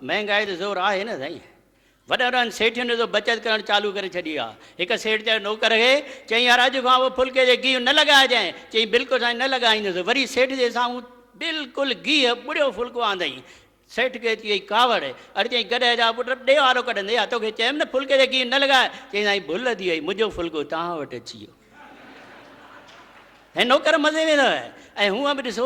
مهنگائي تي زور آهي نه سائين. وڏن وڏن سيٺين ڏسو بچت ڪرڻ چالو ڪري ڇڏي آ. هڪ سيٺ چيو نوڪر کي، چيائين يار اڄ کان پوء ڦلڪي تي گيهه نه لڳائجانء. چيائين بلڪل سائين نه لڳائيندس. وري سيٺ جي سامهون بلڪل گيهه ٻڙيو ڦلڪو آندائين. سيٺ کي اچي وئي ڪاوڙ. اڙي چيائين ڪڏهن جا پٽ ڏي وارو ڪڍندي ها توکي چيم نه ڦلڪي تي گيهه نه لڳاء. چيائين سائين ڀل ٿي وئي منهنجو ڦلڪو توهان وٽ اچي ويو. هي نوڪر مزي ۾ اٿو ۽ هونء به ڏسو.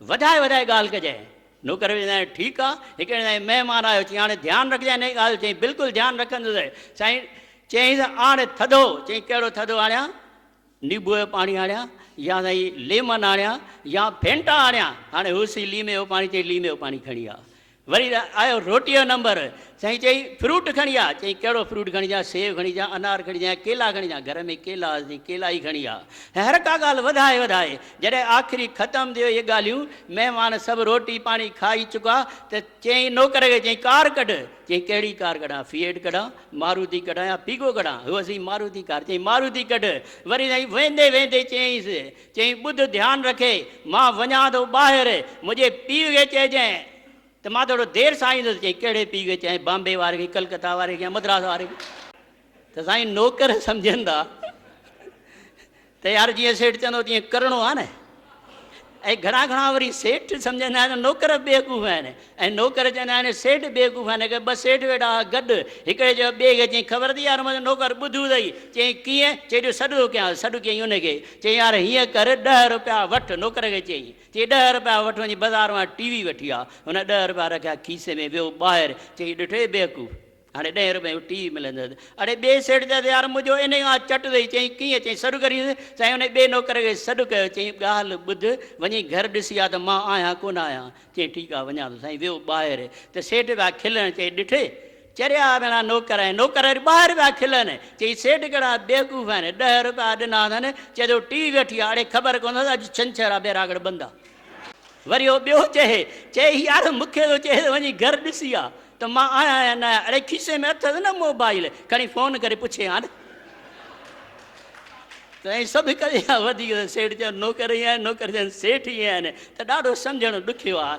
وڌائي وڌائي ڳالهه ڪجانء. نوڪر ويندي آهي، ٺيڪ آ، هڪڙي ڏينهن تائين مهمان آيو، چيائين هاڻي ڌيان رکجانء هن جي ڳالهه جو، چيائين بلڪل ڌيان رکندس. سائين چيائينس آڻ ٿڌو، چيائين ڪهڙو ٿڌو آڻيان، نيبوء جو پاڻي آڻيان يا سائين ليمن آڻيان يا فينٽا آڻيان، هاڻي هوس ئي ليمي جو پاڻي، چيائين ليمي جو پاڻي کڻي آ. وري آيو روٽيء جو نمبر، سائين چئي فروٽ کڻي آ، چئي ڪهڙو فروٽ کڻي اچان، سيو کڻي اچان، انار کڻي اچان يا ڪيلا کڻي اچان، گهر ۾ ڪيلا هئا، چئي ڪيلا ئي کڻي آ، ۽ هر ڪا ڳالهه وڌائي وڌائي، جڏهن آخري ختم ٿيو اهي ڳالهيون، مهمان سڀ روٽي پاڻي کائي چڪا ته چيائين نوڪر کي، چئي ڪار ڪڍ، چئي ڪهڙي ڪار ڪڍان، فيئٽ ڪڍان، ماروتي ڪڍان يا پيگو ڪڍان، هئس ئي ماروتي ڪار، چئي ماروتي ڪڍ، وري سائين ويندي ويندي چيائينس، چيائين، ٻڌ ڌيان رکي، مان وڃان ٿو ٻاهر، منهنجي پيء کي چئجانء ته مان ٿورو دير سان ايندس. چيائين، ڪهڙي پيء کي چئين، بامبي واري کي، ڪلڪتا واري کي يا مدراس واري کي؟ ته سائين نوڪر سمجهندا ته يار جيئن سيٺ چوندو تيئن ڪرڻو آهي نه. ۽ گهڻا گهڻا وري سيٺ سمجهندا آهن ته نوڪر بيوقوف آهن. ۽ نوڪر چوندا آهن، سيٺ بيگون کان نڪر، ٻه سيٺ ويٺا هئا گڏ، هڪڙي چيو ٻئي کي، چيائين خبر اٿئي يار منهنجو نوڪر ٻڌو اٿئي، چيائين ڪيئن؟ چيائين جو سڏ ٿو ڪيانس، سڏ ڪيائين ان کي، چيائين يار هيئن ڪر ڏهه رپيا وٺ، نوڪر کي چيائين، چيائين ڏهه رپيا وٺ وڃي بازار مان ٽي وي وٺي آ، هن ڏهه رپيا رکيا کيسي ۾، ويو ٻاهر، چيائين ڏٺوئي بيوقوف! هاڻي ڏهين روپين جو ٽي ملندس. اڙي ٻئي سيٺ چيس، يار منهنجو انهي کان چٽ اٿئي. چيائين، ڪيئن؟ چيائين، سڏ ڪرينس. سائين انهي ٻئي نوڪر کي سڏ ڪيو. چيائين، ڳالهه ٻڌ، وڃي گهر ڏسي آ ته مان آهيان ڪونه آهيان. چيائين، ٺيڪ آ، وڃان ٿو. سائين ويو ٻاهر ته سيٺ پيا کلن. چيائين، ڏٺئي! چريا ڀيڻا نوڪر آهن. نوڪر وري ٻاهر پيا کلن. چيائين، سيٺ ڪهڙا بيوقوف آهن. ڏهه روپيا ڏنا اٿن. چئي ٿو ٽي وٺي آ. اڙي خبر ڪونه اٿس اڄ ڇنڇر آ، بيراڳڙ بند آ. وري هو ٻيو چهي، چئي هي آڙهه مون کي ٿو چئي ته وڃي گهر ڏسي آ ته مان آهيان يا نه آهيان. اڙي کيسي ۾ اٿس نه موبائيل، کڻي فون ڪري پڇي آن. ته ائين سڀ هڪ جيان آهن. وڌيڪ ته سيٺ چون نوڪر ائين آهن، نوڪر چون سيٺ ائين آهن ته ڏاڍو سمجهڻ ڏکيو آ.